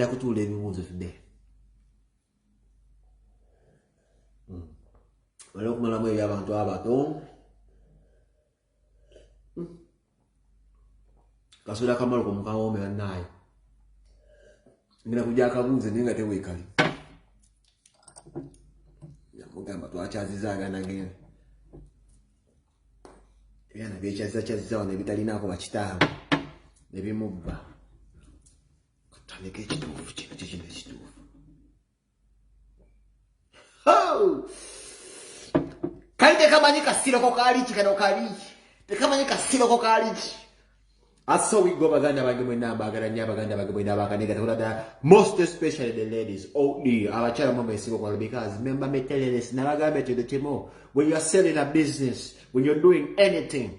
tugenda kutuula ebibuuzo today hmm. wala okumalamu eri abantu abato hmm. kasula kamalo komukawome banaye ngenda kuja akabuuze naye nga tewekali namugamba twakyaziza aganagenda ebyana byekyazizakyaziza wano ebitalinaako bakitaabwe ne bimubba Kutandika ekituufu kino kyekino ekituufu. Kali tekamanyi kasiroko kaliki kano kaliki. Tekamanyi kasiroko kaliki. Aso we go baganda bange mwe namba agara nya baganda bange mwe namba kanega tola da most especially the ladies oh the abachara mama esigo kwa because remember me telling this na bagambe to the timo when you are selling a business when you're doing anything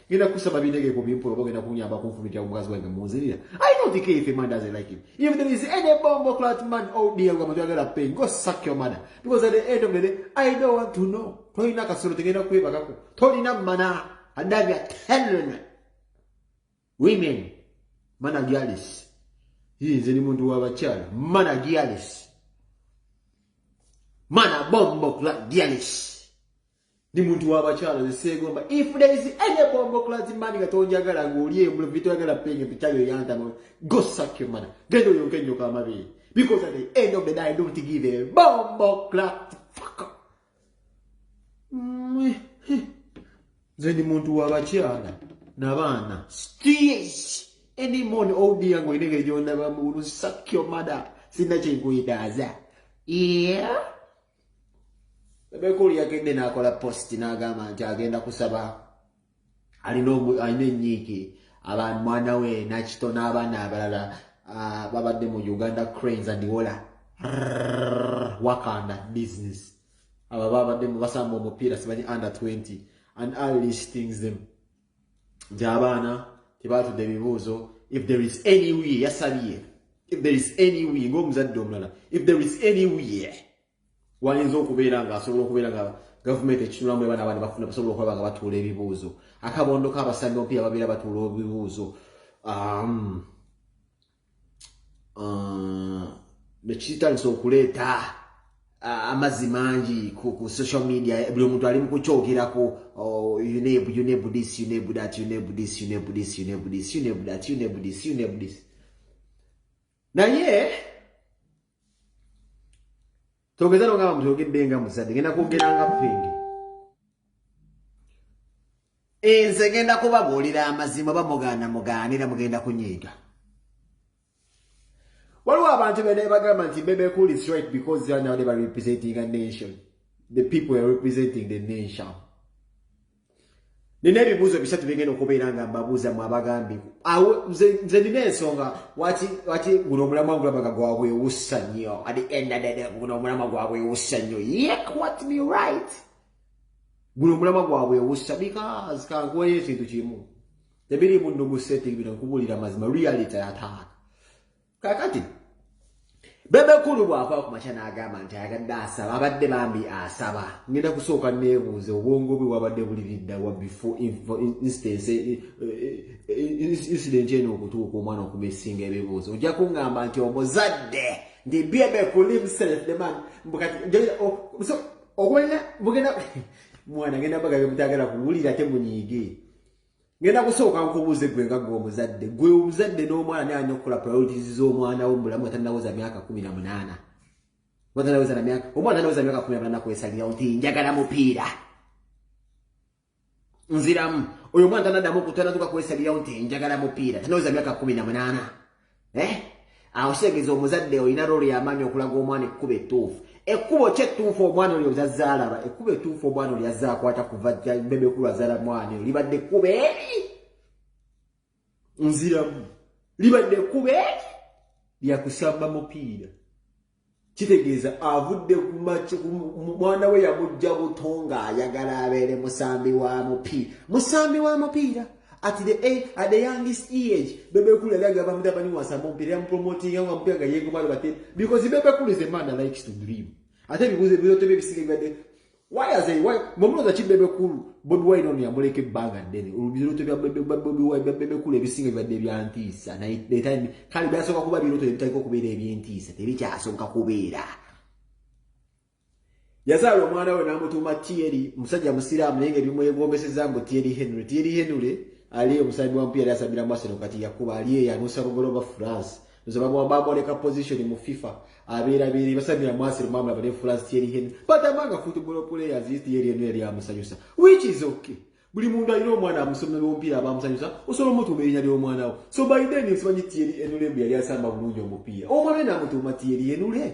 Ngenda kusaba binege ku bimpulo bogenda kunyamba ku nfumiti ya mukazi wange munzirira. I don't care if a man doesn't like him. If there is any bomb or clat man oh dear gwa mutwa gala pain go suck your mother because at the end of the day I don't want to know. Tolina kasoro tegenda kweba kako. Tolina mana adabi atellen. Women mana gialis. Hii nzeni muntu wa bachala mana gialis. Mana bombo clat gialis. Ndi muntu wa bakyala ze seegomba. If there is any bombo class man nga tonjagala ng'oli embula bye toyagala penge nti kyali oyantama go suck your mother. Genda oyonke nnyo ka mabeere. Because at the end of the day I don't give a bombo class fuck up. Mm, eh. Nze ndi muntu wa bakyala n'abaana. Steers any morn old oh yango inenge jona ba mu suck your mother. Sina chengu idaza. Yeah. bebekulu yagende nakola post nagamba nti agenda kusaba alina alina enyiiki abantu mwana we nakito n'abaana abalala ah, babadde mu uganda cranes and wola wakanda business aba babadde mu basamba omupiira simanyi under 20 and all these things them nti abaana tebaatudde ebibuuzo if there is any way yasabye if there is any way ng'omuzadde omulala if there is any way wayinza okubeera nga asobola okubeera nga gavumenti ekitunulamu ebaana abaana bafuna basobola okulaba nga batuula ebibuuzo akabondo k'abasambi omupiira babeera batuula ebibuuzo um, uh, nekitandisa okuleeta uh, amazzi mangi ku, ku social media buli omuntu ali mukukyogerako oh, uneb uneb this uneb that uneb this uneb this uneb this uneb that uneb this uneb this naye togeza nogamba mutyogedde nga muzadde genda kwogera nga penge enze genda kubabuulira amazima oba mugaana mugaanira mugenda kunyiiga waliwo abantu bene bagamba nti bebe cool is right because they are now they are representing a nation the people are representing the nation nina ebibuuzo bisatu byengenda okubeera nga mbabuuza mu abagambi awo nze nina ensonga waki waki guno omulamwa ngulabaga gwabwewussa nnyo at the end of the day guno omulamwa gwabwewussa nnyo yek what me right guno omulamwa gwabwewussa because kankuweyo ekintu kimu tebiriimu nnugu setting bino nkubuulira mazima reality ataaka kakati bebekulu bwava ku makya n'agamba nti ayagadde asaba abadde bambi asaba ngenda kusooka neebuuza obwongo bwe wabadde buliriddawa before instance eh, eh, eh, incident eno okutuuka omwana okuba esinga ebibuuzo ojja kungamba nti omuzadde nti bebekulu himself the man bukati okwena bugenda mwana genda baga byemutagala kuwulira temunyiige ngenda kusooka nkubuuze gwe nga gwe omuzadde gwe omuzadde n'omwana naye alina okukola priorities z'omwana wo mulamu atanawoza myaka kumi na munaana watanawoza na myaka omwana anawoza myaka kumi na munaana kwesalirawo nti njagala mupiira nziramu oyo omwana tanadamu okutanatuka kwesalirawo nti njagala mupiira tanawoza myaka kumi na munaana eh? awo kitegeeza omuzadde olina rolo yamaanyi okulaga omwana ekkuba ettuufu ekkubo ki ettuufu omwana olyo lyazaalaba ekkuba ettuufu omwana olyo yazaakwata kuva bebekulu azaala mwana eyo libadde ekkuba eri nziramu libadde ekkuba eri lyakusamba mupiira kitegeeza avudde mwana we yamujja buto ng'ayagala abeere musambi wa mupiira musambi wa mupiira at the, eh, at the youngest age bebekulu yali agamba mutabani wasamba omupiira yamupromotinga nga mupiira nga yegomalobate because bebekulu is a man that likes to dream ate ebibuuzo ebibuzo tebe ebisiga ebibadde mwe mulooza ki bebe kulu bobi wine ono yamuleka ebbanga ddene olubirooto bya bebe kulu ebisinga bibadde byantiisa kale byasooka kuba birooto ebitagika okubeera ebyentiisa tebikyasooka kubeera yazaala omwana we n'amutuuma tieri musajja musiraamu naye nga ebimwegombeseza mbu tieri henry tieri henry ali omusaabi wa mpiya yali asabira mu aseno kati yakuba ali eyo anuusa bugoloba france nze bamwamba amwoleka position mu fifa abeera beere basamira mwasiro mwamula bane france thierry henry but among a football players is thierry henry yali amusanyusa which is okay buli muntu alina omwana amusomera omupiira aba amusanyusa osobola omutuuma erinya ly'omwana wo so by then nsimanyi thierry henry mbu yali asamba bulungi omupiira omwana namutuuma thierry henry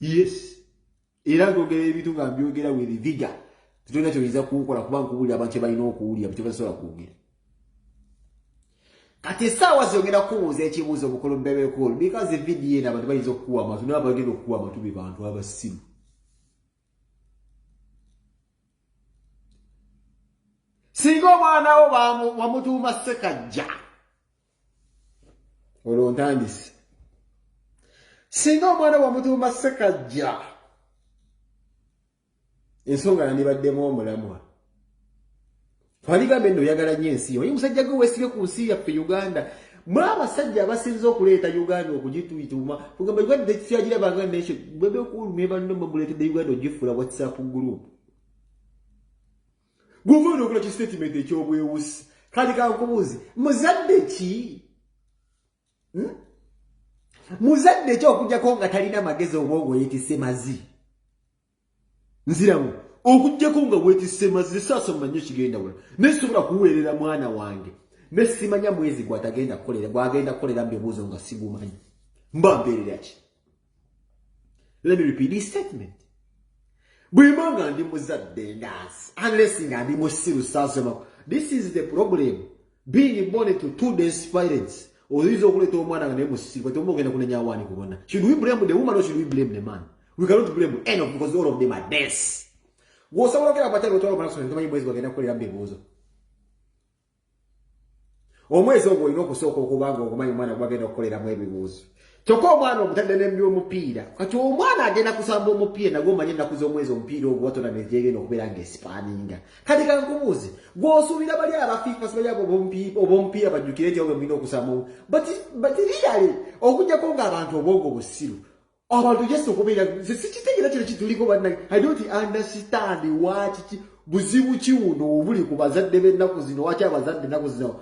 yes era nzogera ebintu nga mbyogera with vigor tetulina kyoyinza kunkola kuba nkubuulira abantu kyebalina okuwulira bkyebasobola kwogera kati esaawa zogenda kubuuza ekibuuzo mukulu bebekulu because vidiyo eno abantu bayinza okukuwa amatu naba bagenda okukuwa amatu be bantu abasimu singa omwana wo wamutuuma sekajja olwo ntandise singa omwana wamutuuma sekajja ensonga yandibaddemu omulamwa twaligambe nno oyagala nyo ensi oye musajja gwe wesibe ku nsi yaffe uganda mwe abasajja abasinza okuleeta uganda okugituituma ogamba uganda tekikyagirabanga nekyo bwebekulu nebanno mwemuleetedde uganda ogifuula whatsapp group gwova onokola ki statement ekyobwewusi kati kankubuuzi muzadde ki hmm? muzadde ki okujjako nga talina magezi obwongo yetise mazi nziramu okujjako nga wetise mazi saasa mumanye kigenda wala naye sobola kuweerera mwana wange nesimanya mwezi gwatagenda kukolera gwagenda kukolera mu bibuuzo nga sigumanyi mba mbeerera ki let me repeat this statement bwemba nga ndi muzadde ndaasi unless nga ndi musiru sasema this is the problem being born to two days parents oyinza okuleeta omwana nga naye musiru kati omu ogenda kunenya awaani kubona should we blame the woman or should we blame the man we cannot blame any of because all of them are deaths gwosobola okera abatali otwala omwana sontomanyi mwezi bagenda kukolera mbebuuzo omwezi ogwo olina okusooka okuba nga ogumanyi omwana gwagenda okukoleramu ebibuuzo kyokka omwana omutadde nembi omupiira kati omwana agenda kusamba omupiira nagwe omanye ennaku z'omwezi omupiira ogwo watona negyegenda okubeera nga esipaaninga kati kankubuuzi gwosuubira bali abafiifasi bali abo obomupiira bajjukire nti obwe mulina okusamba batiriale okujjako ng'abantu obwongo busiru abantu just okubeera nze sikitegera kino kituliko banna i don't understand wakiki buzibu ki wuno obuli ku bazadde b'ennaku zino waki abazadde ennaku zino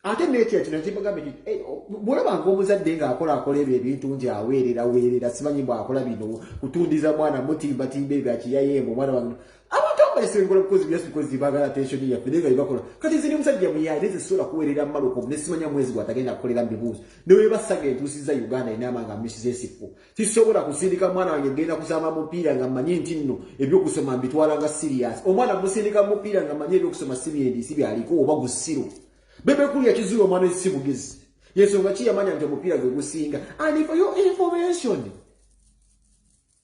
ate nekira kino kimugambe ti eh, bwolabanga omuzadde ng'akola akola ebyo ebintu nti aweerera weerera simanyi bw'akola bino kutundiza mwana mutimbatimba ebyo akiyayeemu omwana wange abantu abaesengola bukozi byasu bukozi bagala tensioni yaffe naye nga yebakola kati nze ne musajja muyaye nze sisobola kuweerera mmaloko ne simanya mwezi gwatagenda kukolera mbibuuzi ne webasaga entuusiza uganda enaama nga misiza esikko sisobola kusindika mwana wange genda kusamba mupiira nga mmanyi nti nno ebyokusoma mbitwala nga siriyasi omwana musindika mupiira nga mmanyi ebyokusoma sibyendisi byaliko oba gusiru bebekulu yakizuula omwana esi bugezi yensonga ki yamanya nti omupiira gwe gusinga and for your information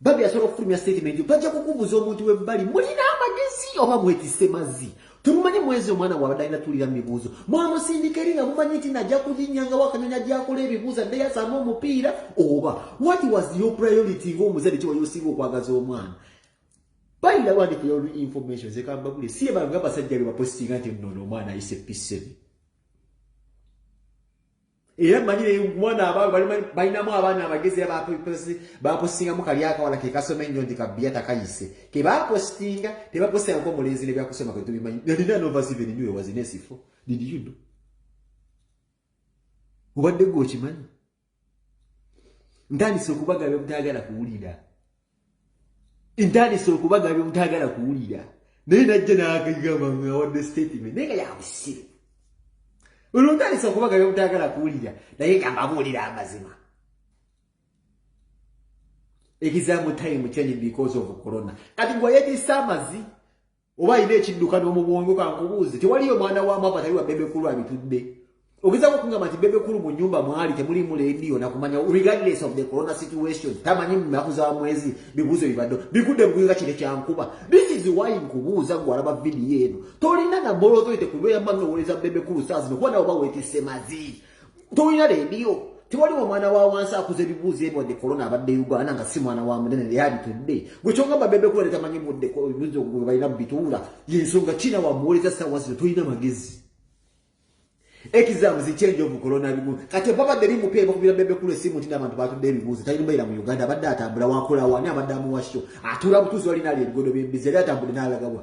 Babi asobola okufulumya statement yo bajja kukubuza omuntu webbali mulina amagezi oba mwetise mazzi temumanyi mwezi omwana wabadde alina tuulira mu bibuuzo mwamusindika eri nga mumanyi nti najja kuginyanga wakanyonyi ajakola ebibuuzo adde yasaamu omupiira oba what was your priority ngaomuzadde kiwayo osinga okwagaza omwana bayina wandika your information zekambagule si ebanga abasajja bebapositinga nti nono omwana ayise piseni era manyi naye mwana abaalo balinamu abaana abagezi era bapostingamu kali akawala ke kasoma ennyo nti kabbiya takayise ke bapostinga tebapostingako omulenzi ne byakusoma ke tubimanyi nalina novasiven nyo ewazina esifo did you know obadde gwe okimanyi ntandise okubagala byemutayagala kuwulira ntandise okubagabya omutagala kuwulira naye najja nagambaawadde statement naye nga yabusiru olwo ntandise okubagabya omutagala kuwulira naye nga mbabuulira amazima ekizamu time change because of corona kati gwe yetisa amazi oba alina ekiddukano mu bwongo kankubuuzi tewaliyo mwana wa maama tali wa bebekulu abitudde ogezako okugamba nti bebekulu mu nyumba mwali temulimu leediyo nakumanya regardless of the corona situation tamanyi munaku za mwezi bibuuzo bibadde bigudde buguyinga kire kyankuba this is why nkubuuza gwe alaba vidiyo eno tolina na mbolooto ite kubeera mmanowoleza bebekulu saa zino kuba nawe oba weetisse mazi tolina leediyo tewaliwo omwana wa wansi akuza ebibuuzo ebyo wadde kolona abadde uganda nga si mwana wa munene leyalitudde gwe kyogamba bebe kuba letamanyi budde ebibuuzo gwe balina bubituula yensonga kina wamuwoleza saawa zino tolina magezi ekizamu zikyenje obukolona ebimu kati obabadde bimupeera bakubira bebe kulu esimu nti n'abantu batudde ebibuuzo talina mbeera mu uganda abadde atambula wakolawo ani abadde amuwakyo atuula butuuzi walina ali ebigodo byembizi yali atambule n'alagawa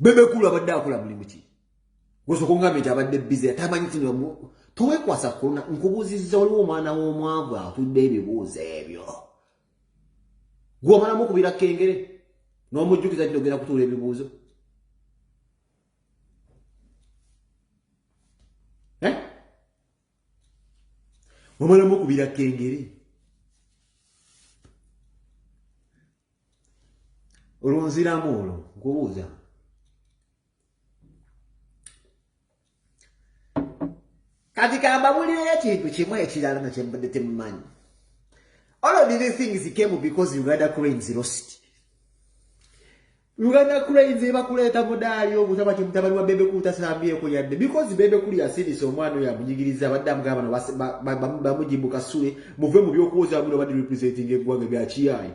bebe kulu abadde akola mulimu ki gosoko ngambe nti abadde bize atamanyi kino towekwasa kuluna nkubuuzizza waliwo omwana w'omwavu atudde ebibuuzo ebyo gwomalamu okubira kengere n'omujjukiza kino ogenda kutuula ebibuuzo eh? omalamu okubira kengere olwo nziramu olwo nkubuuza kati kambabulireyo ekintu kimu ekirala na kyembadde temumanyi all of these things came because uganda cranes lost uganda cranes ebakuleeta mudaali obutaba kimutabani wa bebe kulu tasambyeko yadde because bebe kulu yasirise omwana oyo amunyigiriza abadde amugaba bano bamujibuka sule muve mu byokuwoza buli obadde representing eggwanga byakiyaayo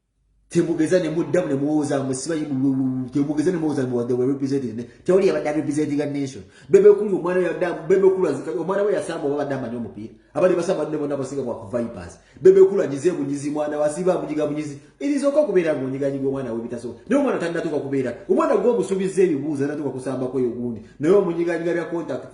temugeza ne muddamu ne muwooza mwe sibayi temugeza ne muwooza mwe wadde werepresented ne tewali yabadde arepresentinga nation bebe okuli omwana we yadda bebe okuli azika omwana we yasamba oba badde amanyi omupiira abali basamba ne bona basinga kwa vipers bebe okuli anyize bunyizi mwana wasiba bunyiga bunyizi irizo okwo kubeera ngo nyiga nyiga omwana we bitaso ne omwana tannatuka kubeera omwana gwo omusubizza ebibuuza natuka kusamba kweyo gundi naye omunyiga nyiga bya contact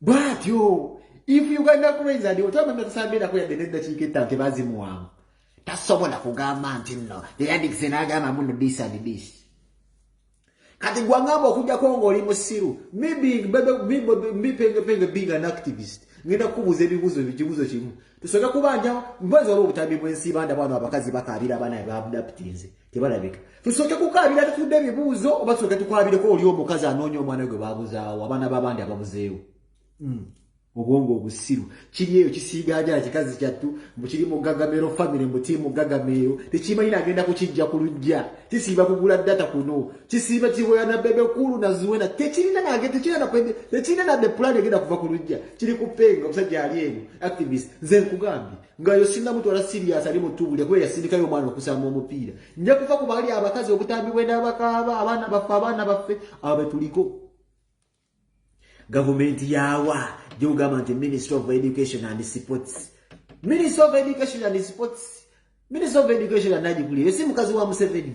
bwatyo if uganda cranes and otama natasambirako yadde neddakiika etta nti bazimuwamu tasobola kugamba nti nno yeyandikise n'agamba muno dis and dis kati gwangamba okujjako ngaoli musiru mipengepenge being an activist ngenda kukubuuza ebibuuzo ekibuuzo kimu tusoke kubanja mbazi waliwo obutambi bwensi banda bwano abakazi bakaabira abaana babdaputinze tebalabika tusooke kukaabira tutudde ebibuuzo oba tusooke tukwabireko oli omukazi anoonya omwana we gwe baabuzaawo abaana b'abandi ababuzeewo hmm. obwongo obusiru kiri eyo kisiigaajala kikazi kyattu mbu kiri mu gagamero famire mbu kiri mu gagameero tekimanyi nagenda kukijja ku lujja kisiiba kugula data kuno kisiiba kiwoya na bebe kulu na zuwena tekirina nage tekirina na de pulani egenda kuva ku lujja kiri ku penga omusajja ali eno activist nze nkugambye nga yo singa mutwala sirias ali mutubule kuba yasindikayo omwana okusamba omupiira nja kufa ku baali abakazi obutambi bwe n'abakaaba abaana baffe abaana baffe abo betuliko gavumenti yawa gyogamba nti ministry of education and sports ministry of education and sports ministry of education anagikuliyo si mukazi wa museveni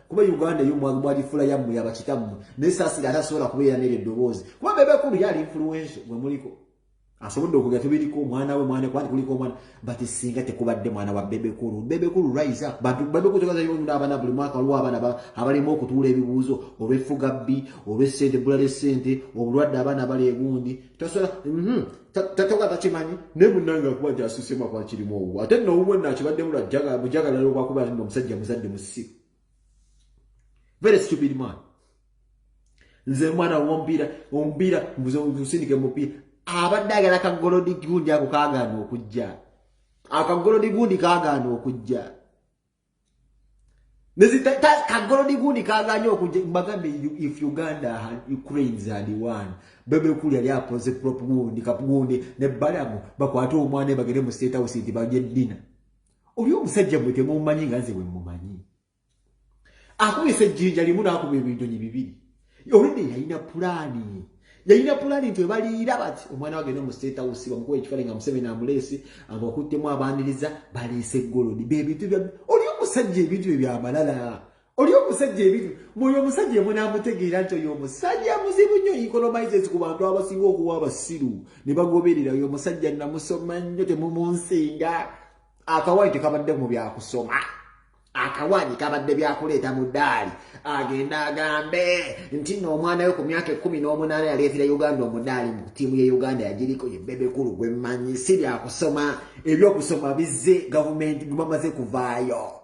kuba uganda eyo mwagifula yammwe yabakitammwe naye saasira ate asobola kubeera nere eddoboozi kuba bebe kulu yali influenso gwe muliko asobodde okuga tebiriko omwana we mwana kwani kuliko omwana but singa tekubadde mwana wa bebe kulu bebe kulu rise up bantu bebe kulu tegaza yonyo n'abaana buli mwaka waliwo abaana abalema okutuula ebibuuzo olw'effuga bbi olw'essente ebbula ly'essente obulwadde abaana bali egundi tasala mhm. tatoka takimanyi ne munange akuba jasusi mwa kwa kiri mwo ate no uwe na kibadde mula jaga bujaga lero kwa kuba ndo musajja muzadde musi very stupid man nze mwana wombira ombira mbuzo usindike mupi abadde agala ka golodi gundi ako kagano okujja aka golodi gundi kagano okujja kagolodi gundi kaganye okubagambe if uganda ukraines and one bebe kuli yali apoze prop gundi kagundi ne balamu bakwate omwana bagere mu state house nti baje dina oli omusajja mwe temumanyi nga nze bwe mumanyi akubise ejjinja limu n'akuba ebinyonyi bibiri olwedde yalina pulaani yalina pulaani nti webaliira bati omwana wagenda mu state house bamukuba ekifaani nga museveni amuleese abakuttemu abaniriza baleese eggolodi bebintu bya oli omusajja ebintu bye byamalala oli omusajja ebintu mwoyo omusajja emunamutegeera nti oyo omusajja muzibu nnyo economizes ku bantu abasinga okuba abasiru ne bagoberera oyo omusajja namusoma nnyo temumunsinga akawai tekabadde mu byakusoma akawaanyi kabadde byakuleeta mu ddaali agenda agambe nti no omwana we ku myaka ekumi n'omunaana yaleetera uganda omudaali mu ttiimu ye uganda yagiriko ye bebekulu gwe mmanyi si byakusoma ebyokusoma bizze gavumenti bamaze kuvaayo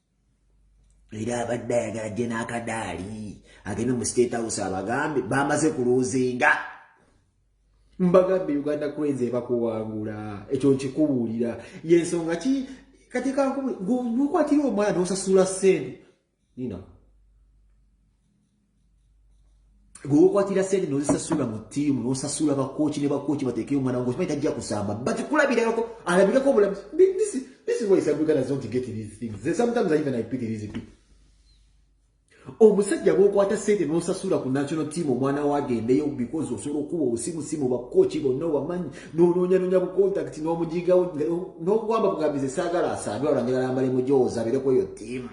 era abadde ayagala gye n'akadaali agende mu state house abagambe bamaze kuluuzinga mbagambe uganda cranes ebakuwangula ekyo nkikubuulira yensonga ki kati kankubuulira gwokwatira omwana nosasula sente nina gwe wokwatira sente nozisasula mu tiimu nosasula bakooki ne bakooki bateekeyo omwana wange okimanyi tajja kusamba but kulabirako alabireko obulamuzi this is why some ugandans don't get these things Then sometimes even i pity these people omusajja bwokwata sente nosasula ku national team omwana wagendeyo because osobola okuba obusimusimu bakooki bonna obamanyi nonoonyanonya bucontact nomujigawo nokugamba bugambize saagala asaadwa olanjagala mbale mujooza aberekweyo tiimu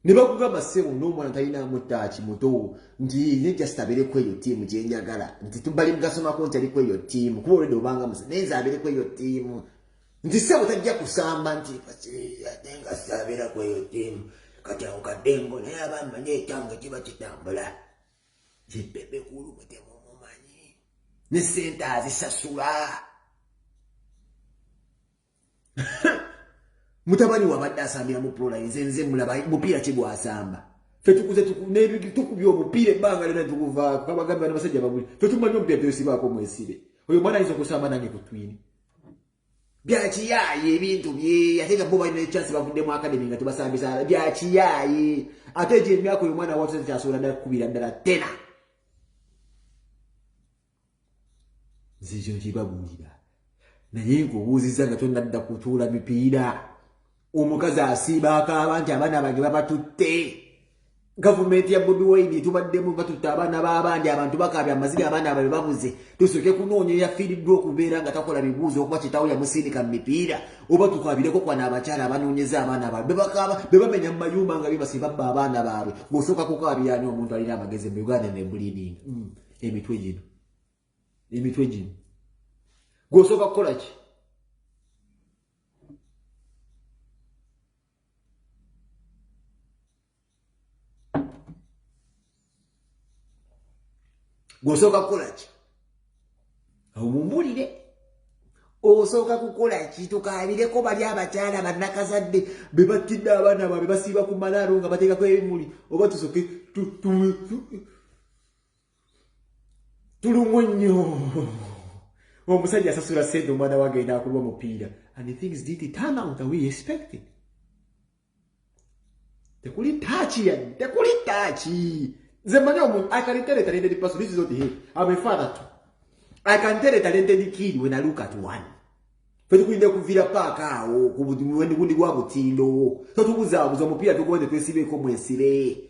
ne bakugamba sebo n'omwana talina mutaaki muto nti ne just abeere ku eyo ttiimu gye njagala nti tubali mugasomako nti ali ku eyo ttiimu kuba olwedde obanga musa naye nze abeere ku eyo ttiimu nti sebo tajja kusamba nti ate nga saabeera ku eyo ttiimu kati awo kaddengo naye aba mmanyi ekyanga kiba kitambula kibebe kulu mutemu mumanyi ne sente azisasula mutabani wabadde asambira mu prola nze nze mulaba mupiira kigwasamba fetukuze tukubya omupiira ebbanga lena tukuvaako kabagambi bana basajja babuli fetumanyi omupiira tosibaako mwesibe oyo mwana ayinza okusamba nange ku twini byakiyaaye ebintu bye ate nga bo balina ekyansi bavuddemu akademi nga tebasambisa byakiyaaye ate egyo emyaka oyo mwana watusa tekyasobola ddala kukubira ddala tena nze ekyo nkibabuulira naye nkubuuzizza nga tonnadda kutuula mipiira omukazi asiiba akaaba nti abaana bange babatutte gavumenti ya bobi wine tubaddemu batutte abaana b'abandi abantu bakaabya amaziga abaana ababe babuze tusooke kunoonya eyafiiriddwa okubeera nga takola bibuuzo okuba kitawo yamusindika mu mipiira oba tukwabireko kwana abakyala abanoonyeza abaana baabwe bebakaaba bebamenya mu mayumba nga bebasibabba abaana baabwe ng'osooka kukaabirani omuntu alina amagezi mu uganda nebuliidinga mm. emitwe gino emitwe gino gwosooka kukola ki gwosooka kukola ki omumulire osooka kukola ki tukaabireko bali abakyala bannakazadde be battidde abaana baabwe basiiba ku malaalo nga bateekako ebimuli oba tusoke tulumwe nnyo omusajja asasula sente omwana we agenda akulwa omupiira and the things did it turn out we expected tekuli taaki yadde tekuli taaki nze mmanyi omuntu i can tell a talented person this is not him i'm a father too i can tell a talented kid when i look at one fetukulinde kuvira paaka awo kubundi gwa butindo totubuzabuza omupiira tugoende twesibeeko mwesire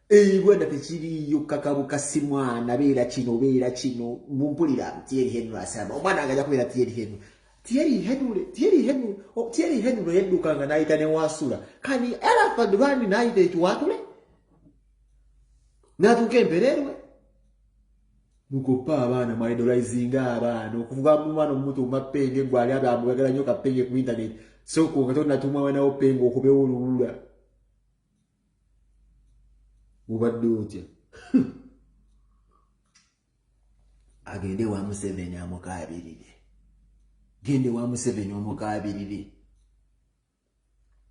Eibwa da tekiriyo kakabu kasimwana beera kino beera kino mumpulira Thierry Henry asaba omwana agaja kubeera Thierry Henry Thierry Henry Thierry Henry oh, Thierry Henry no yedduka nga naita ne wasula kani era fadwani naita ekiwatule natuka empererwe mukopa abaana mu idolizing abaana okuvuga mu mwana omutu mapenge gwali abe amugagala nyo kapenge ku internet so ko nga tona tumwa wanawo pengo okubewo lulula ubadde otya agende wa museveni amukabirire gende wa museveni omukabirire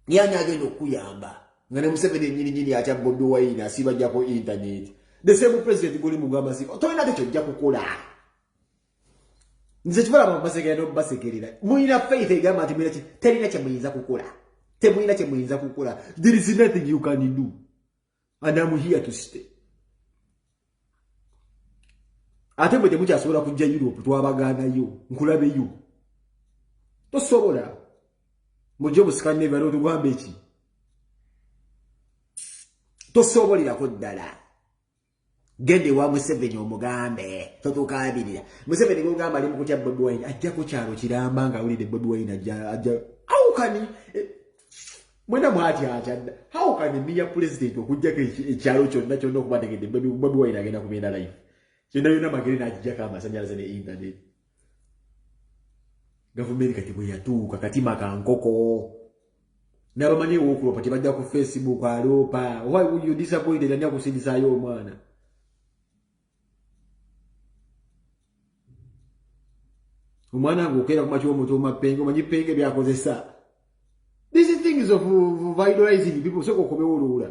yani agenda okuyamba nga ne museveni enyininyini atya bobi wine asibajako intaneti the same president guli mugamba si tolina te kyojja kukola nze kibalaba mubasekerera nomubasekerera mulina faith egamba nti mulina terina kyemuyinza kukola temulina kyemuyinza kukola there is nothing you can do and am here to stay ate mwe temukyasobola kujja europe twabagaanayo nkulabeyo tosobola mujje omusikane ebala otugamba eki tosobolirako ddala genda ewa museveni omugambe totukabirira museveni gogamba ali mukutya bobi wine ajja ku kyalo kiramba nga awulidde bobi wine ajja awukani eh, mwena mwati atya hawukani miya pulezidenti okujjako ekyalo kyonna kyonna okubategedde bobi wine agenda kubenda life kyonna yonna magere nakijjako amasanyalaze ne intaneti gavumenti kati bweyatuuka katima ka nkoko nabamanyi ewokuloopa tebajja ku facebook aloopa why would you disappoint ani akusindisayo omwana omwana nga okeera ku makyo omuntu omapenge omanyi penge byakozesa these things of, of idolizing people soka okomewo oluwula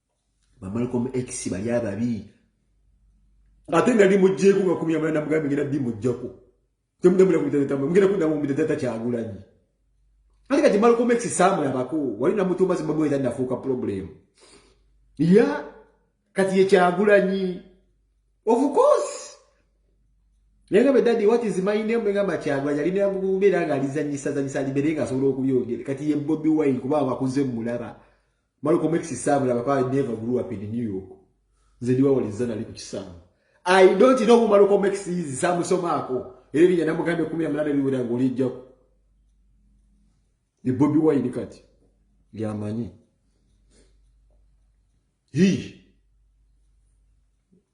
bamalcom x bali ababi ate nali mujjeeko nga kumi amala namugambe ngenda bimujjako temugambira kumitatama mugenda kuddamu mumitatata kyagulanyi ate kati malcom x saamulabako wali namutuuma zimbabweza nafuuka problem ya kati ye kyagulanyi of course naye nga bedadi what is my name ngamba kyagulanyi ali namubeera nga alizanyisazanyisa alibeere nga asobola okuyongere kati ye bobi wine kuba abakuze mulaba Malcolm X Sam laba pa never grew up in New York. Nze ndi wawali zana liku kisamu. I don't know who Malcolm X is Sam soma ako. Eri jana mugande kumi ya mlada liwira ngoli jako. Ni Bobby Wine kati. Liamanyi. Hii.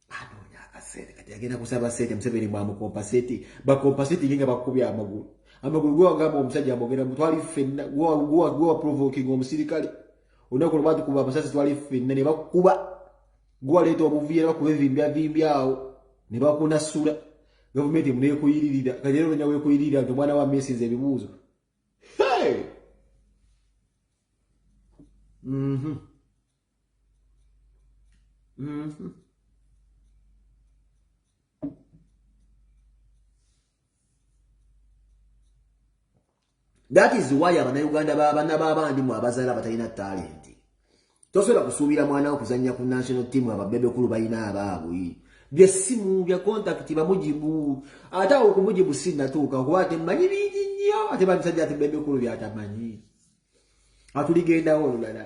anoonya akasente kati agenda kusaba sente museveni mwamukompaseti bakompaseti nge nga bakubya amagulu amagulu gwe wagamba omusajja amogera mu twali ffenna gwe waprovokinga omusirikale olunaku lwe batukuba amasasi twali ffenna ne bakuba gwe waleeta obuviira bakuba evimbyavimbyawo ne bakunasula gavumenti emunekuyiririra kati era ononya wekuyiririra nti omwana wa mesinza ebibuuzo hey! mm -hmm. Mm -hmm. that is why abanauganda babana babandi mu abazaala batalina talenti tosobola kusuubira mwana wo kuzannya ku national team ababebekulu balina abaabwe byessimu bya contact bamujibu ate awo okumujibu sinatuuka kuba ate mmanyi bingi nnyo ate bamisajja ati bebekulu byatamanyi atuligendawo olulala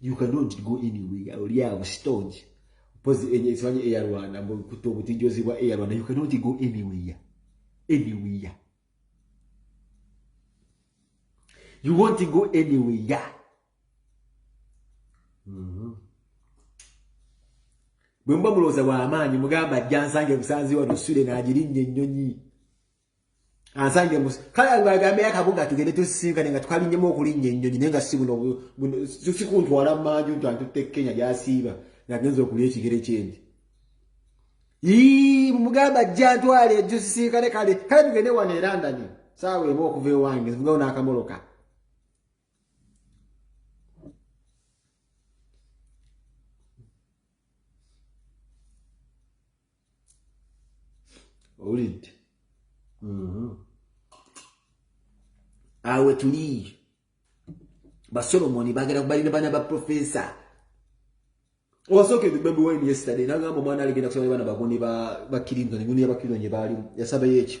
you cannot go anywhere oli awo stonge pozi enye simanyi eya rwanda mbu kuto butijozi bwa eya rwanda you cannot go anywhere anywhere you want to go anywhere mm-hmm. bwe mba mulowooza wa amaanyi mugamba ajja nsange busanzi wano sule n'agirinnye ennyonyi ansange musi kale agambe yakabuga tugende tusisinkane nga twalinyemu okulinnya ennyonyi naye nga si buno sikuntwala manju nti antutte kenya gyasiiba ngagenza okulya ekigere kyendi mugamba ajja ntwale ejusisinkane kale kale tugende wano erandani saawa emu okuva ewange zivugawo n'akamoloka owulidde mhm. awe tuli basolomoni bagala kubalina baana ba profesa owasokedde baby wine yesterday nagamba omwana aligenda kusaba baana bagoni ba clinton eguni yaba clinton gyebaalimu yasabayo ekyo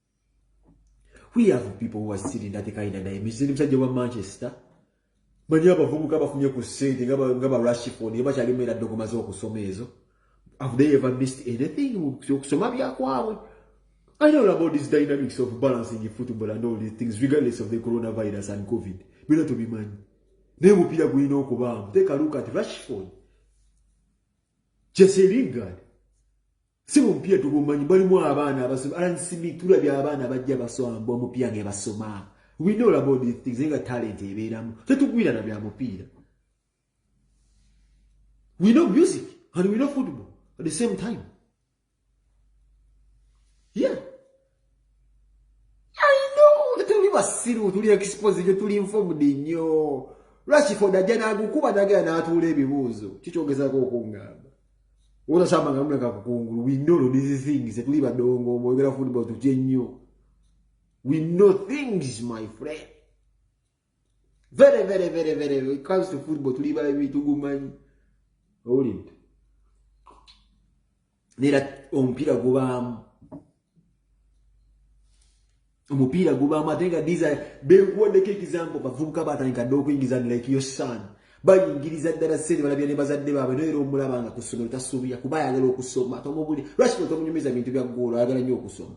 we have people who are still in that kind of name mzini msaje wa manchester mani hapa vugu kaba funye kusente ngaba ngaba rush phone yaba chali mwela dogo mazo kusoma ezo have they ever missed anything kusoma bya kwawe I know about these dynamics of balancing football and all these things regardless of the coronavirus and covid bila to be man ne mupira gwino okuba take a look at rush phone Jesse Lingard Sibu mpia tubumanyi balimu abaana abasoma Alan Smith tulabye abaana abajja basoma mbu omupia ge basoma we know about these things nga talent ebeeramu tetugwira na bya mupiira we know music and we know football at the same time yeah tuli basiru tuli expose nyo tuli informed nyo lwaki foda ajja nagukuba nagera natuula ebibuuzo kikyogezako okungamba otasamba nga muleka kukungulu we know no these things tuli badongo mwoyogera football tutye nnyo we know things my friend very very very very when it comes to football tuli babi tugumanyi owulinti nera omupiira gubaamu omupiira gubaamu ate nga disa bekuwaddeko ekizambo bavubuka batandika dde okuyingiza like your son bayingiriza ddala sente balabira ne bazadde baabwe noera omulaba nga ku ssomero tasuubira kuba ayagala okusoma tomubuli lwaki tomunyumiza bintu bya ggoolo ayagala nnyo okusoma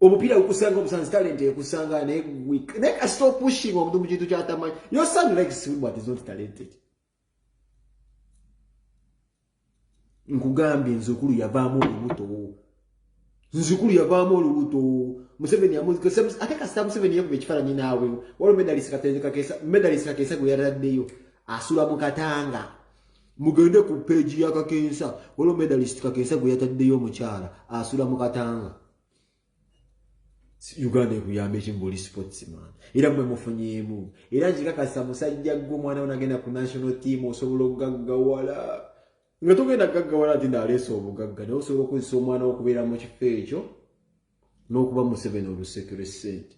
omupiira gukusanga omusanzi talenti ekusanga naye week naye kasita opushinga omuntu mu kintu kyatamanyi yo son like swim but is not talented nkugambye nze okulu yavaamu olubuto nze okulu yavaamu olubuto museveni ate kasita museveni yakuba ekifaananyi naawe waliwo medalisi kakeesa gwe yataddeyo asula mu katanga mugende ku peegi ya kakensa waliwo medalist kakensa gwe yataddeyo omukyala asula mu katanga uganda ekuyamba ekimu buli sportsman era mwe mufunyeemu era nkikakasa musajja gwe omwana wo nagenda ku national team osobola okugaggawala nga togenda kugaggawala nti naaleesa obugagga naye osobola okukozesa omwana wo okubeera mu kifo ekyo n'okuba museveni olusekere sente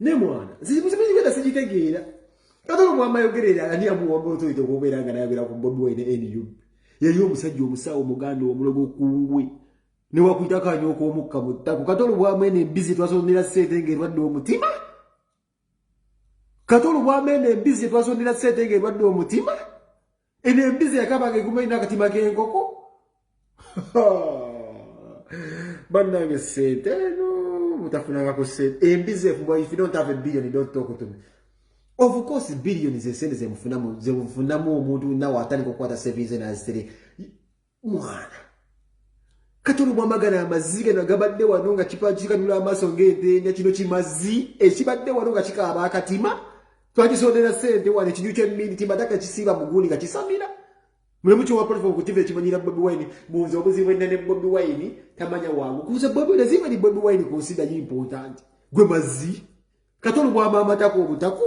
ne mwana nzimuzimuigenda sijitegeera kati ono mwama yogerera ani amuwamba otoyite okubeera nga nayogera ku bobi wine nu yali omusajja omusawo muganda omulogo kungwe newakuyita kanyooka omukka mu ttako kati olubwamu eno embizi twasondera sente nga erwadde omutima kati olubwamu eno embizi twasondera sente nga erwadde omutima eno embizi yakabanga eguma erina akatima k'enkoko bannange sente eno mutafunanga ku sente embizi efumba if you don't have a billion you don't talk to me of course billion zesente zemufunamu zemufunamu omuntu nawe atandika okukwata savings nazitiri mwana kati olubwamagana amazzi gano gabadde wano nga kipakikanula amaaso ng'entenda kino kimazzi ekibadde wano nga kikaaba akatima twakisondera sente wano ekinyu kyemmindi timataka kisiiba mugundi nga kisamira mulimu kyowapolifa okutiva ekimanyira bobi wine bunza obuzibu enna ne bobi wine tamanya wangu kuza bobi wine ziba ni bobi wine ku nsi naye important gwe mazzi kati olubwama amatako obutako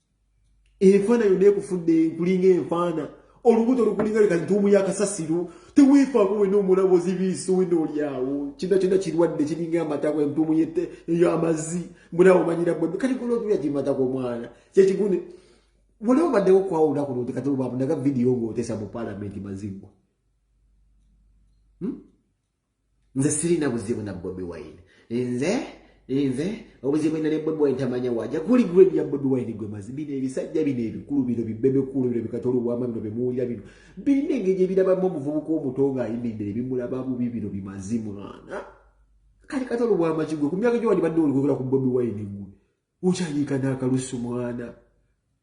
enfaana yonna ekufudde nkulinga enfaana olubuto lukulinga leka ntuumu yakasasiro teweefaako wena omulabo zibiiso wena olyawo kina kyona kirwadde kiringa amatako entuumu eyo amazzi mbunaawe omanyira bwebbe kati kola otuya kimatako omwana kyekigune waliwo baddewo okwawulira kuno nti kati olwabunaga vidiyo ng'otesa mu paalamenti mazigwa hmm? nze sirina buzibu na bobi wine nze nze obuzibu ina ne bobi wine tamanya waja kuli grade ya bobi wine gwe mazi bino ebisajja bino ebikulu bino bibebekulu bino bikatolo bwama bino bemuwulira bino birina engeri gye birabamu omuvubuka omuto nga ayimiridde ne bimulaba bubi bino bimazi mwana kati katolo bwama kigwe ku myaka gyo wandibadde olikogera ku bobi wine gwe ukyayiika n'akalusu mwana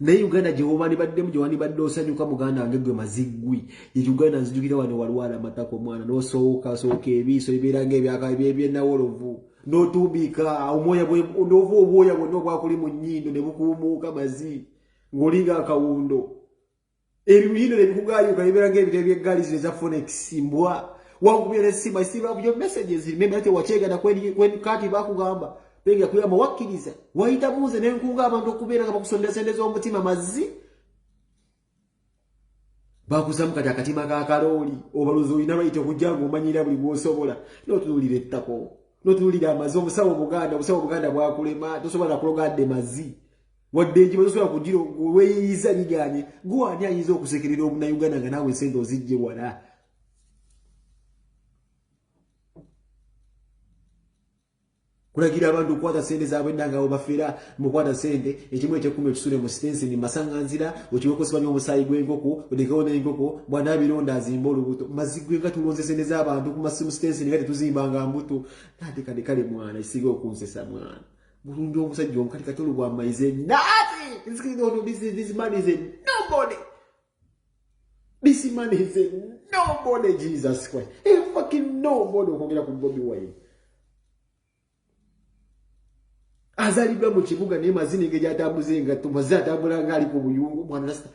naye uganda gyewobani baddemu gyewani badde osanyuka muganda wange gwe maziggwi ye uganda nzijukira wano walwala amatako omwana nosooka sooka ebiiso ebibeera nga ebyakabyenawolovu notubiika omwoya nova obwoya bwonna obwakuli mu nyindo ne bukuumuuka mazi ng'olinga akawundo ebiyindo ne bikugayuka ne biraga ebitabo by'eggaali zino eza fonex mbwa wakubira essimu i still have your messages remember that wakyegana kwen kati bakugamba bega kuyamba wakkiriza wayita muze ne nkunga abantu okubeera nga bakusondera sente z'omutima mazzi bakuzamu kati akatima ka kalooli obaluzi olina bayita okujja nga omanyira buli bwosobola notunuulira ettako notunuulira amazi omusawo omuganda omusawo omuganda bwakulema tosobola nakulogadde mazzi wadde enjima zosobola kugira weyiyiza liganye gwe ani ayinza okusekerera obunauganda nga naawe esente ozijje wala kulagira abantu okukwata sente zaabwe nanga abo bafeera mukwata sente ekimu ekyekumi ekisule mu sitensi ni masanganzira okiwekosebanyo omusaayi gw'enkoko odekewo n'enkoko bwanaabironda azimba olubuto mazi gwe nga tulonze sente z'abantu ku masimu sitensi nga tetuzimbanga mbuto natekadekale mwana isiga okunsesa mwana Bulungi omusajja obukati katolo bwa maize nothing. This is no this is this man is a nobody. This man is a nobody Jesus Christ. A fucking nobody okwogera ku Bobi Wine. Azalibwa mu kibuga naye mazina engeri atambuza engatto mazina atambula ng'ali ku buyungu mwana nasita.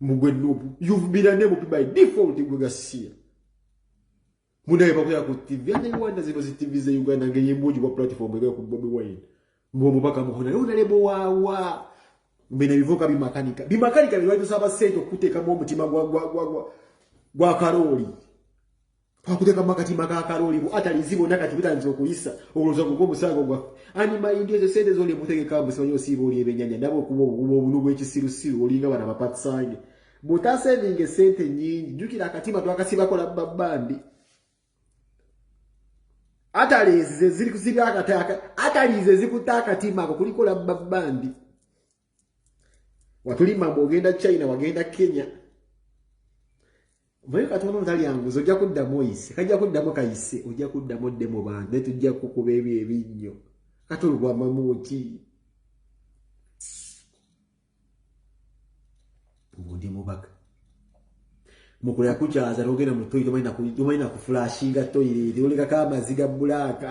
mugwe nubu you've been a name by default gwe gasiya munaye bakoya ku tv ate uganda zino zi tv ze uganda ngeri embungi bwa platform ebe ku bobi wine mbu omubaka muhona naye onalebo wawa mbena bivuka bimakanika bimakanika bye batusaba sente okuteekamu omutima gwa gwa gwa gwa gwa karooli Twakuteka makatima ga kaloli bu atali zibo na kati bitanzo kuyisa obuloza kugo musango gwa ani mayindi ezo sede zo limutege ka musanyo sibo oli ebenyanya ndabo kubo kubo bunu bwe kisiru siru oli nga bana bapatsange buta saving sente nyingi jukira akatima twakasiba kola babandi atali ze ziri kusiba akataka atali ze zikutaka tima ko kulikola babandi watulima mbu ogenda china wagenda kenya mbaye katonda otalyanguzi ojja kuddamu oyise kajja kuddamu kayise ojja kuddamu odde mu bantu naye tujja kukuba ebyo ebinnyo kati olwamamu ki obundi mubaka mukulira kukyaza nogenda mu toyi tomanyi nakuflashinga toyireere olekako amazi ga bulaaka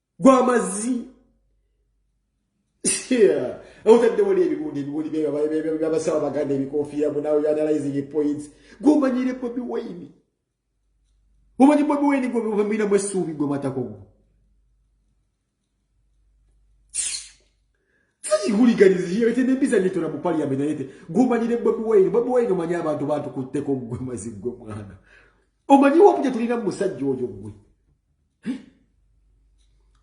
gwamazi otadde wali ebibundi ebibundi byabasawo baganda ebikofiira munawe analyzing points gwomanyire bobi wayini omanyi bobi wayini gwomiramu essuubi gwe matako gwo sakihuliganiziyetenempisa nitora mu paliament nayete gwomanyire bobi wayini bobi wayini omanyi abantu batukutteko gwe mazi gwe mwana omanyi wapu gyetulina mu musajja oyo gwe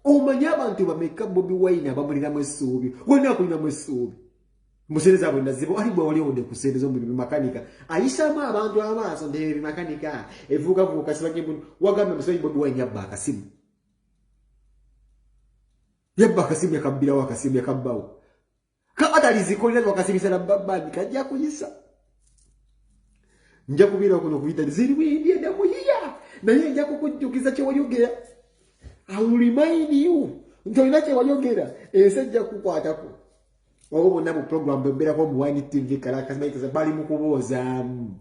omanyi abantu bameka bobi wine abamuliramu essuubi wena akulinamu essuubi musente zabwe nazibo ali bwe wali ode kusente zo mulimu makanika ayisaamu abantu amaaso ndeebi makanika evuuka vuuka sibanye mu wagambe musayi bobi wine yabba akasimu yabba akasimu yakabbirawo akasimu yakabbawo kabadalizikolera wakasibisa na babandi kajja kuyisa nja kubeera kuno kuyita ziri bwindi edamuyiya naye nja kukujjukiza kyewayogera aurimainiu nti olina kyewayogera ensi ejja kukwatako oba bonna mu programu bembeerako omuwanyi tv kalakasinaiteza bali mu kuboozamu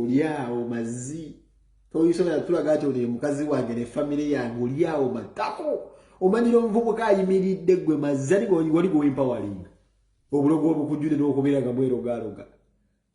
olyawo mazi toyisobola kutulaga nti oli mukazi wange ne famire yange olyawo matako omanyira omuvubuka ayimiridde gwe mazzi ani wali gwewempawalinga obulogo obukujjude n'okubeera nga mwerogaaloga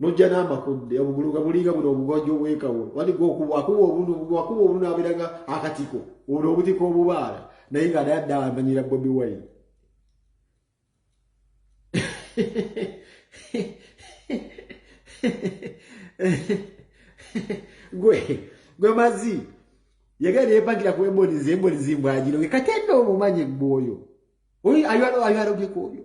nojja n'amakudde obugulu nga bulinga buno obugonjo obwekawo waliga okuba akuba obunu akuba obunu abeera nga akatiko ono obutiko obubaala naye nga naye adda amanyira bobi wine gwe gwe mazi yagala neyepangira ku emboni zemboni zimbwagiro kati enno omumanyi gwe oyo oyo ayalogekobyo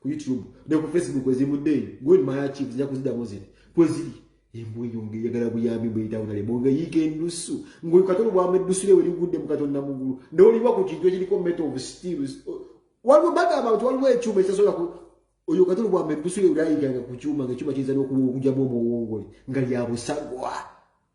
ku youtube ne ku facebook ezivudde eyo go in my archives nja kuzidamu ziri kweziri embwa eyo ng'eyagala buyambi bweyitawona lemu nga yiika ennusu ng'oyo katonda obwamba ennusu lye werigudde mu katonda mu ggulu naye oliwa ku kintu ekiriko metal of steel waliwo bagamba nti waliwo ekyuma ekisasobola oyo katonda obwamba ennusu lye werayiganga ku kyuma ng'ekyuma kiyinza n'okuwa okujamu omuwongole nga lyabusagwa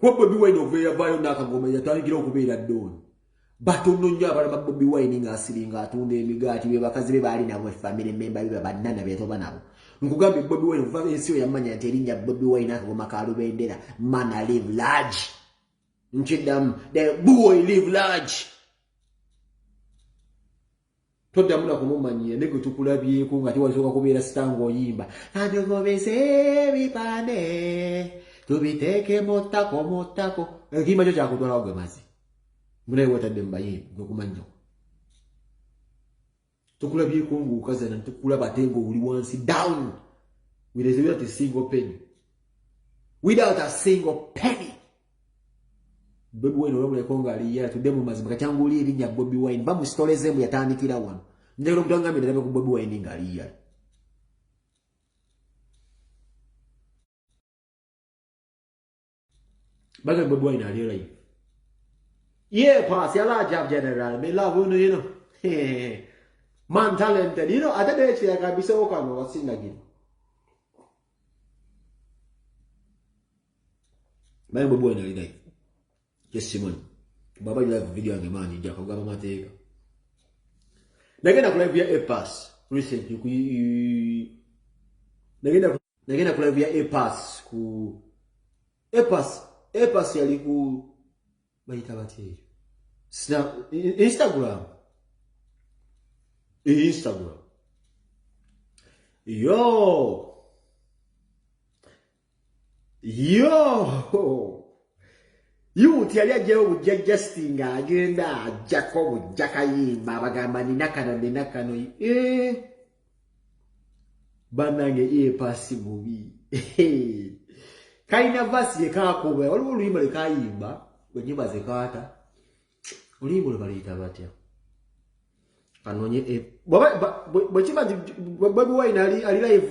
kuba bobi wine okuva eyavaayo nakagoma yatandikira okubeera dooni batono nnyo abalama bobi wine ngaasiringa atunda emigaati bebakazi be baali nabo efamire memba biba bannana betoba nabo nkugambye bobi wine okuva ensi yo yamanya nti erinnya bobi wine akagoma ka lubendera mana live large nkiddamu the boy live large toddamu na kumumanyiira ne gwe tukulabyeko nga tewalisooka kubeera sita ng'oyimba katugobese ebipande tubiteeke mu ttako mu ttako ekiyimba kyo kyakutwalawo gwe mazi munaye wetadde mu bayimbi gwekumanyinyoko tukulabyeko ng'okazana tukulaba ate ng'oli wansi down with a single penny without a single penny Bobi Wine olabuleko nga ali yala tudde mu mazima kati anguli erinya Bobi Wine ba mu story ze mbu yatandikira wano ndero kutanga mbe ndabe ku Bobi Wine nga ali yala Baga Bobi Wine ali yala Ye pass yala jab general me love you you know Man talented you know ate de chira kabisa okano wasinga gino Bayi mwe bwena ali live. Yes Simon. Baba live video yange manji nja kugaba mateeka. Nagenda ku live ya A pass recently ku Nagenda ku Nagenda ku live ya A pass ku A pass A pass yali ku bayita bateeyo. Snap Instagram. Instagram. Yo. yoo yuuti yali ajjayo bujja jasti nga agenda ajjako bujja kayimba abagamba nina kano nina kano eh. banange epasi eh, bubi kalina vasi yekakuba waliwo oluyimba lwekayimba wenyimba zekaata oluyimba lwebaluyita batya kanonye eh, bwekiba bobi wine ali live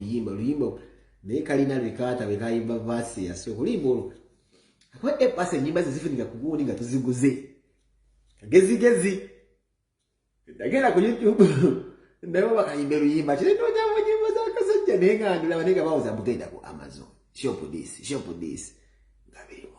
yimba luyimba naye kalina lwekaata lwekayimba vaasi yasooka oluyimba olwo akuba epasa enyimba ze zifunika ku gundi nga tuziguze kagezigezi ndagenda ku youtube naye bakayimba luyimba kiri nonyamba nyimba zakasajja naye nga ndulaba naye nga bawoza bugenda ku amazon shop this shop this nga birimu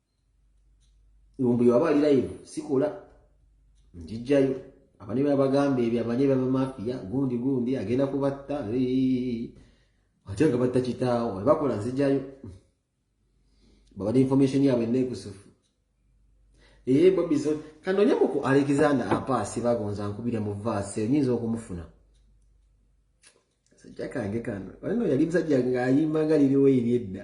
mbu yaba ali live sikola njijjayo abane babagamba ebyo abane babamafiya gundi gundi agenda kubatta ate nga batta kitaawo ebakola nzijayo babade information yabwe nekusufu eye bobizo kanonyeko ku alexander apaasi bagonza nkubire mu vaasi enyinza okumufuna sajja kange kano walino yali musajja ngaayimba nga liriwo eri edda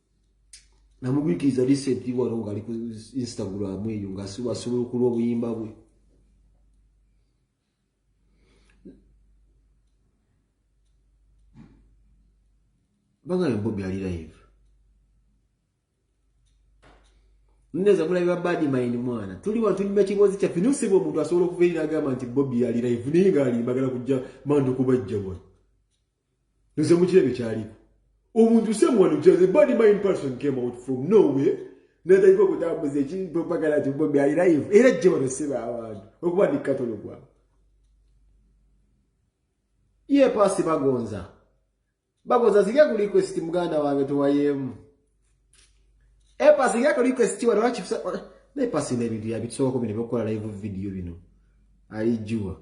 namugwikiriza recently wano ngaali ku instagram eyo nga asobola okulwa obuyimba bwe bangana bobi ali live neza mulabi ba badi maini mwana tuli wano tuli mekiboozi kyaffe naye osibwa omuntu asobola okuva eri nagamba nti bobi ali live naye ngaali bagala kujja mandu kubajja wano nze mukirabye kyaliko omuntu someone just a body mind person came out from nowhere nataika okutambuza ekipagala ti bobi ali live era jje banaseba abantu okuba ndi katolo gwabo ye pasi bagonza bagonza zirya ku request muganda wange tuwayemu epasi zirya ku request wano wakifisa naye pasi nebintu yabitusokako bino byokukola live video bino alijuwa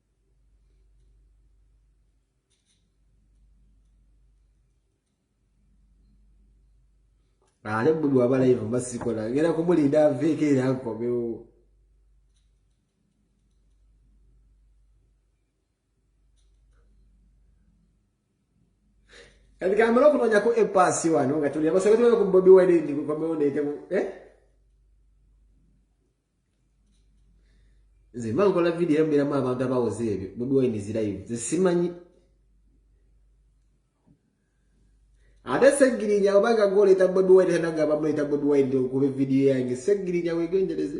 ate buli wabalayivu mba sikola ngera kumulinda aveeko era nkomewo kati kamala okunonyako epaasi wano nga tuli abasoga tulabe ku bobi wine ndi kukomewo neetemu eh? nze mba nkola vidiyo era mbeeramu abantu abawoza ebyo bobi wine is live nze simanyi ate segirinya obanga goleta bobi wine tanagamba muleta bobi wine okuba evidiyo yange segirinya wegendereze